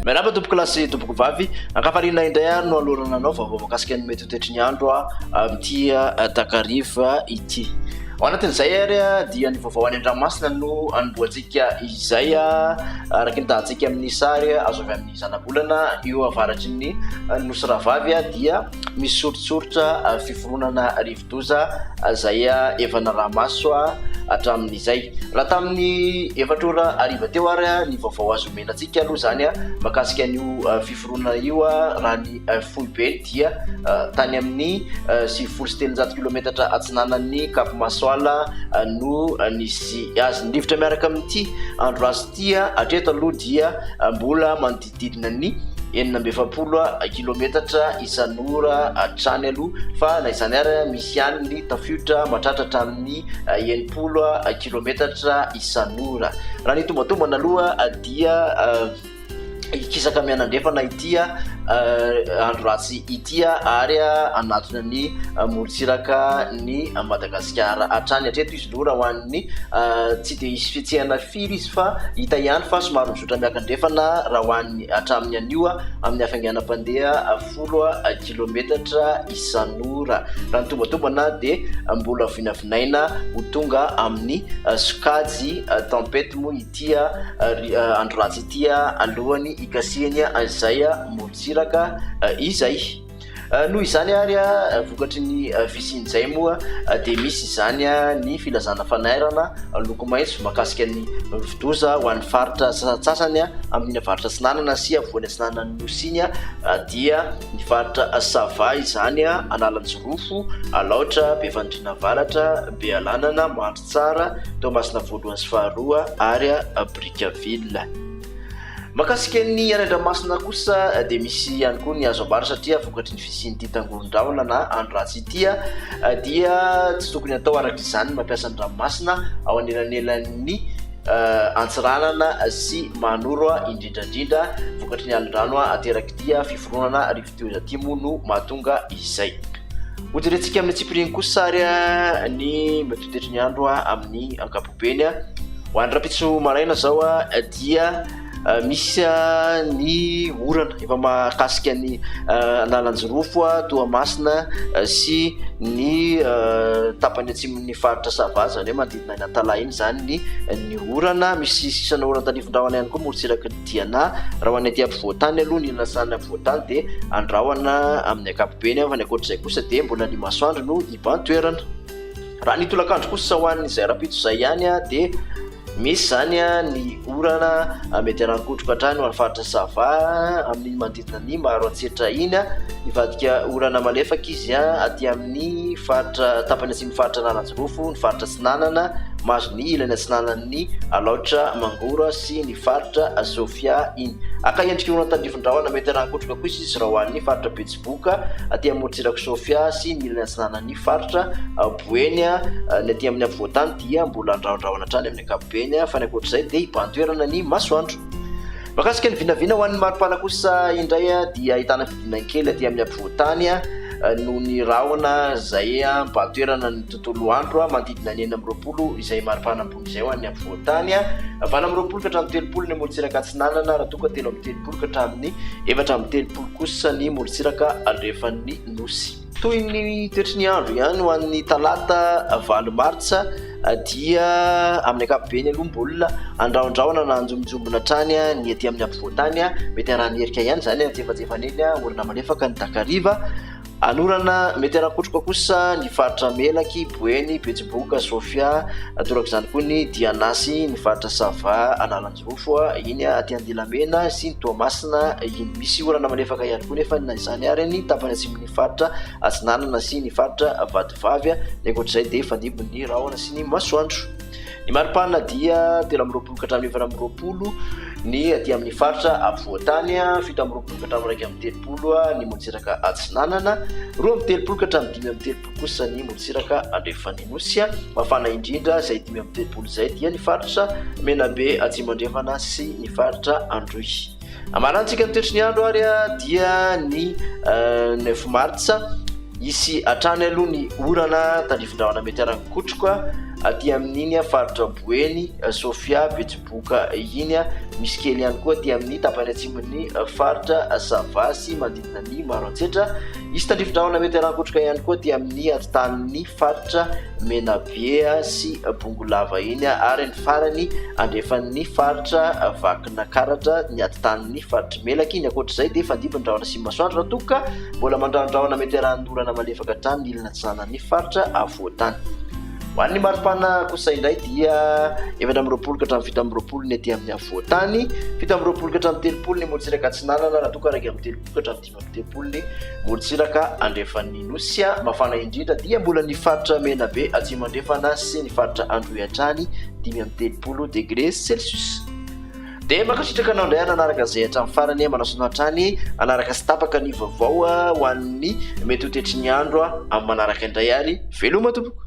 miarahaba tompoko lahy sy tompoko vavy ankafaliana indray ary no alohana anao vaovao voakasika ny mety ho toetry ny andro a amin'ity takariva ity ao anatin'izay ary a dia ny vaovao any an-dranomasina no anombohantsika izay a araka ny tahantsika amin'ny sary azo avy amin'ny zanabolana eo avaratry ny nosy Rahavavy dia misy soritsoritra fiforonana rivodoza izay efa naraha-maso hatramin'izay. Raha tamin'ny efatra ora hariva teo ary ny vaovao azo omena antsika aloha izany makasika an'io fiforonana io raha ny foibe dia tany amin'ny sivifolo sy telonjato kilometatra atsinanan'ny Cap Masoala no nisy azy. Ny rivotra miaraka amin'ity andro lasa. Tia hatreto aloha dia mbola manodidididina ny enina amby efapolo kilometatra isan'ora hatrany aloha fa na izany ary misy ihany ny tafiotra mahatratra hatramin'ny enimpolo kilometatra isan'ora. Raha ny tombatombana aloha dia hikisaka mianandrefana ity andro ratsy ity ary hanatona ny morontsiraka ny Madagasikara hatrany hatreto izy. Lou raha ho an'ny tsy dia hisy fihetsehana firy izy fa hita ihany fa somary mizotra miakandrefana raha ho an'ny hatramin'ny anio amin'ny hafainganam-pandeha folo kilometatra isan'ora. Raha ny tombantombana dia mbola vinavinaina ho tonga amin'ny sokajy tempête moa ity andro ratsy ity alohan'ny hikasihany izay morontsiraka izay. Noho izany ary, vokatry ny fisian'izay moa dia misy izany ny filazana fanairana loko maitso mahakasika ny rivodoza ho an'ny faritra sasantsasany amin'ny avaratra atsinanana sy afovoany atsinanan'ny Nosy iny dia ny faritra Sava izany, Analanjirofo, Alaotra, Befandriana Avaratra, Bealanana, Mandritsara, Toamasina Voalohany sy Faharoa ary Brickaville. Mahakasika ny any Andramasina kosa dia misy ihany koa ny azo ambara satria vokatry ny fisian'ity tangoron-drahona na andro ratsy ity dia tsy tokony atao araka izany ny mampiasa ny ranomasina ao anelanelan'ny eh, Antsiranana sy Mahanoro indrindrandrindra vokatry ny alin-drano ateraky ity fiforonana rivodoza. Teo izy aty moa no mahatonga izay. Hojerentsika amin'ny tsipiriany kosa ary ny metotetry ny andro amin'ny ankapobeny. Ho any rapitso maraina zao dia misy ny orana efa mahakasika ny analanjirofo toa masina sy ny tapany atsimon'ny faritra sava zany hoe manodidina ny antalaha iny zany ny ny orana misy sisana orana tanivondrahona ihany koa morotsiraky ny Diana, Raha ho any aty ampovoan-tany aloha ny lasan'ny ampovoan-tany dia andrahona amin'ny ankapobeny fa ny ankoatr'izay kosa dia mbola ny masoandro no iban-toerana. Raha ny tolakandro kosa sao any izay rahampitso izay ihany dia misy izany ny orana mety harankodroka hatrany ho any faritra Sava amin'iny manodidina ny Maroantsetra iny, hivadika orana malefaka izy aty amin'ny faritra tapany atsimon'ny faritra Analanjirofo, ny faritra Atsinanana, mahazo ny ilany atsinanan'ny Alaotra, Mangoro sy ny. Faritra Sofia iny. Haka endrika olona tandrifin-drahona mety harahan-kotroka kosa izy raha ho an'ny faritra Betsiboka aty amorontsirak'i Sofia sy ny ilany atsinanan'ny faritra Boeny. Ny aty amin'ny afovoan-tany dia mbola andrahondrahona hatrany amin'ny ankapobeny fa ny ankoatr'izay dia hibahan-toerana ny masoandro. Mahakasika ny vinavina ho an'ny maripana kosa indray dia ahitana fididiana kely aty amin'ny afovoan-tany noho ny rahona izay mibahan-toerana ny tontolo andro manodidina ny enina amby roapolo izay maripana. izay ho an'ny afovoan-tany valo amby roapolo ka hatramin'ny telopolo ny morontsiraka atsinanana raha toa ka telo amby telopolo ka hatramin'ny efatra amby telopolo kosa ny morontsiraka andrefan'ny nosy. Toy ny toetry ny andro ihany ho an'ny talata valo martsa dia amin'ny ankapobeny aloha mbola andrahondrahona na anjombonjombona hatrany ny ety amin'ny afovoan-tany, mety haraha-ny erika ihany izany antsefatsefany eny orina malefaka ny takariva. Anorana, mety hanakotroka kosa ny faritra Melaky, Boeny, Betsiboka, Sofia, toraka izany koa ny Dianasy, ny faritra Sava, Analanjirofo, iny aty Andilamena sy ny Toamasina iny. Misy orana malefaka ihany koa nefa na izany ary ny tapany atsimon'ny faritra Atsinanana sy ny faritra Vatovavy. Ny ankoatr'izay dia fandimby ny rahona sy ny masoandro. Ny maripana dia telo amby roapolo ka hatramin'ny efatra amby roapolo ny aty amin'ny faritra afovoan-tany, fito amby roapolo ka hatramin'ny iraika amby telopolo ny morontsiraka atsinanana, roa amby telopolo ka hatramin'ny dimy amby telopolo kosa ny morontsiraka andrefan'ny nosy. Mafana indrindra izay dimy amby telopolo izay dia ny faritra Menabe atsimo andrefana sy ny faritra Androy. Amarantsika ny toetry ny andro ary dia ny 9 euh, mars hisy hatrany aloha ny orana tandrifindrahona mety arankotroka aty amin'iny faritra boeny euh, sofia betsiboka iny misy kely ihany koa aty amin'ny tapany atsimon'ny euh, faritra sava sy manodidina ny maro antsetra hisy tandrifindrahona mety arankotroka ihany koa aty amin'ny atitanin'ny faritra menabea sy bongolava iny ary ny farany andrefan'ny faritra vak Nakaratra ny ady tanin'ny faritry Melaky iny. Ankoatra izay dia fandimby ny rahona sy ny masoandro raha toa ka mbola mandrahondrahona mety arahan'ny orana malefaka hatrany ny ilana atsinanan'ny faritra afovoan-tany. Ho an'ny maripana kosa indray dia efatra amby roapolo ka hatramin'ny fito amby roapolo ny aty amin'ny afovoan-tany, fito amby roapolo ka hatramin'ny telopolo ny morontsiraka atsinanana raha toa ka iraika amby telopolo ka hatramin'ny Ny tempolin'i Morontsiraka andrefan'ny Nosy mafana indrindra dia mbola ny faritra Menabe atsimo-andrefana sy ny faritra Androy hatrany dimy amby telopolo degre celsius. Dia mankasitraka anao indray nanaraka izay hatramin'ny farany, manao sonia hatrany hanaraka sy tapaka ny vaovao ho an'ny mety ho tetry ny andro amin'ny manaraka indray ary veloma tompoko.